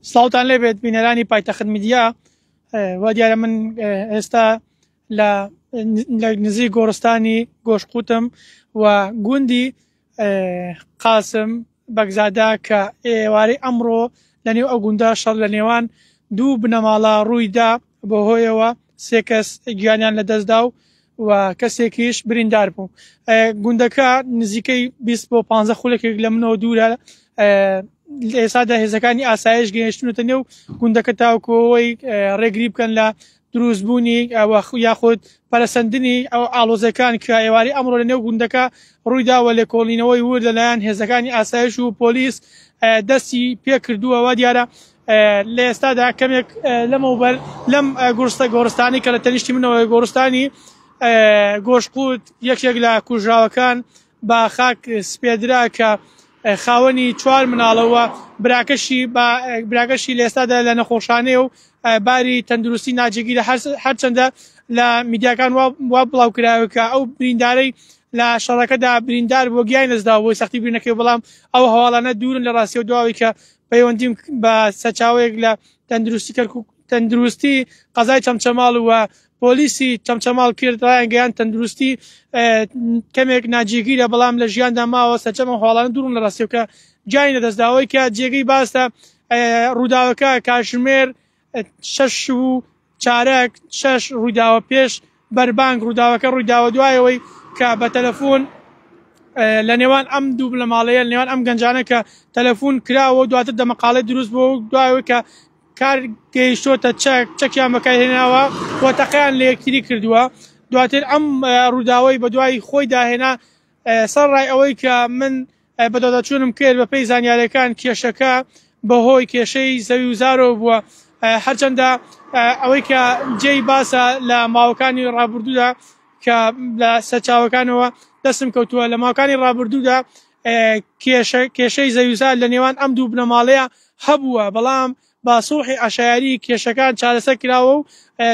سڵاوتان لێ بێت بینەرانی پایتەخت میدیا وا دیارە من ئێستا لە نزیک گۆڕستانی گۆشقوتم و گوندی قاسم بەگزادا کە ئێوارەی ئەمڕۆ لە نێو ئەو گوندا شەڕ لە نێوان دوو بنەماڵە ڕوویدا بەوهۆیەوە سێ کەس گیانیان لەدەستدا و و کەسێکیش بریندار بوو گوندەکە نزیکەی 20 بۆ 15 خولەکێک لە منەوە دوورە ئێسادا هێزەکانی ئاسایش گەیشتونەتە نێو گوندەکە تاوکۆەوەی ڕێگری بکەن لە دروستبوونی ئەوە یاخود پەرسەندنی ئەو ئالۆزەکان کە ئێواری ئەمڕۆ لە نێو گوندەکە ڕوویدا و لێکۆڵینەوەی ور لەلایەن هێزەکانی ئاسایش و پۆلیس دەستی پێکردووەوە دیارە لە ئێستادا کەمێک لەمەوبەر لەم گورستە گۆڕستانی کە لە تەنیشتی منەوەی گۆڕستانی گۆشقوت یەکێک لە کوژراوەکان بە خاک سپێدرا کە خاوەنی چوار مناڵەوە براکەشی براگەشی لە ئێستادا لە نەخۆشانەیە و باری تەندروستی ناجێگیرە هەرچەندە لە میدیاکان وا بڵاو کراوە کە ئەو بریندارەی لە شەڕەکەدا بریندار بۆ گیای نەزدا بۆی سەختی بینەکەی بەڵام ئەو هەواڵانە دوورن لە ڕاستی و دواوی کە پەیوەندیم بە سەچاوەیەک لە تەندروستی کەرکک تەندروستی قەزای چەمچەماڵ و پۆلیسی چەمچەماڵ کرد ڕایانگەیان تەندروستی کەمێک ناجێگیرە بەڵام لە ژیاندا ماوە سەرچەمە هۆڵان دوورم لە ڕاستیەکە جای نەدەستداوەی کە جێگەی باسە ڕووداوەکە کاژمێر شەش شوو و چارەک، شەش ڕوویداوە پێش بەربانگ، ڕووداوەکە ڕوویداوە دوای ئەوەی کە بە تەلەفۆن لە نێوان ئەم دوو بنەماڵەیە لە نێوان ئەم گەنجانە کە تەلەفۆن کراوە دواتر دەمەقاڵێ دروست بوو و دوایەوەی کە کار گەیشتۆتە چەک چەکیان بەکارهێناوە و تەقیان لە یەکتری کردووە دواتر ئەم ڕووداوەی بە دوای خۆی داهێنا سەر ڕای ئەوەی کە من بەدواداچوونم کرد، بەپێی زانیارییەکان کێشەکە بەهۆی کێشەی زەویوزارەوە بووە، هەرچەندە ئەوەی کە جێی باسە لە ماوەکانی ڕابردوودا کە لە سەرچاوەکانەوە دەستم کەوتووە لە ماوەکانی ڕابردوودا کێشە کێشەی زەویوزار لە نێوان ئەم دوو بنەماڵەیە هەبووە، بەڵام بە سوڵحی عەشایەری کێشەکان چارەسەر کراوە و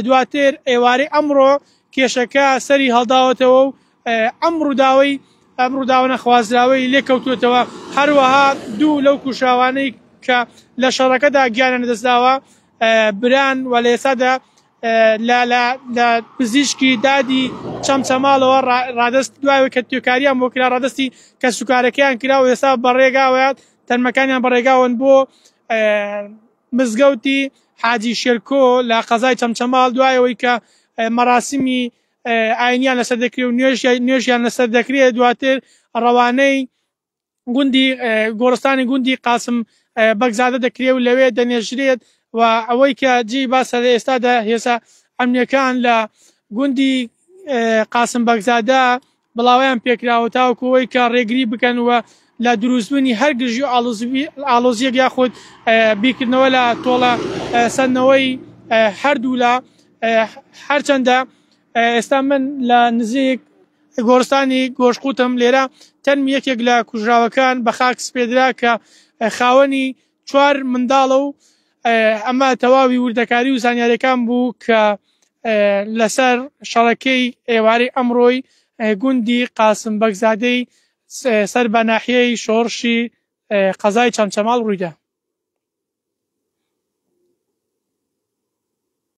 دواتر ئێوارەی ئەمڕۆ کێشەکە سەری هەڵداوەتەوە و ئەم ڕووداوەی ئەم ڕووداوە نەخوازراوەی لێکەوتوێتەوە هەروەها دوو لەو کوشاوانەی کە لە شەڕەکەدا گیانە نەدەستداوە بران و لە ئێسادا لە پزیشکی دادی چەمچەماڵەوە ڕادست دوای کە توێکاریان بۆ کرا ڕادستی کە سوکارەکەیان کرا و ئێستا بەڕێگاوەیان تەرمەکانیان بە ڕێگاوەن بۆ مزگەوتی حاجی شێرکۆ لە قەزای چەمچەماڵ دوایەوەی کە مەراسمی ئاینیان لەسەر دەکرێت و نوێژ نوێژیان لەسەر دەکرێت دواتر ڕەوانەی گوندی گۆرستانی گوندی قاسم بەگزادە دەکرێت و لەوێ دەنێژرێت و ئەوەی کە جی باسە لە ئێستادا هێسا ئەمنیەکان لە گوندی قاسم بەگزادە بڵاوەیان پێکراوە تاوەکو ئەوەی کە ڕێگری بکەن و لە دروستبوونی هەر گرژی و ئالۆزیەک یاخود بیکردنەوە لە تۆڵە سندنەوەی هەردوولا هەرچەندە ئێستا من لە نزیک گۆرستانی گۆشقوتم لێرە تەنم یەکێک لە کوژراوەکان بە خاک سپێدرا کە خاوەنی چوار منداڵە و ئەمە تەواوی وردەکاری و زانیاریەکان بوو کە لەسەر شەڕەکەی ئێوارەی ئەمڕۆی گوندی قاسم بەگزادەی سەر بە ناحیەی شۆڕشی قەزای چەمچەماڵ ڕوویدا.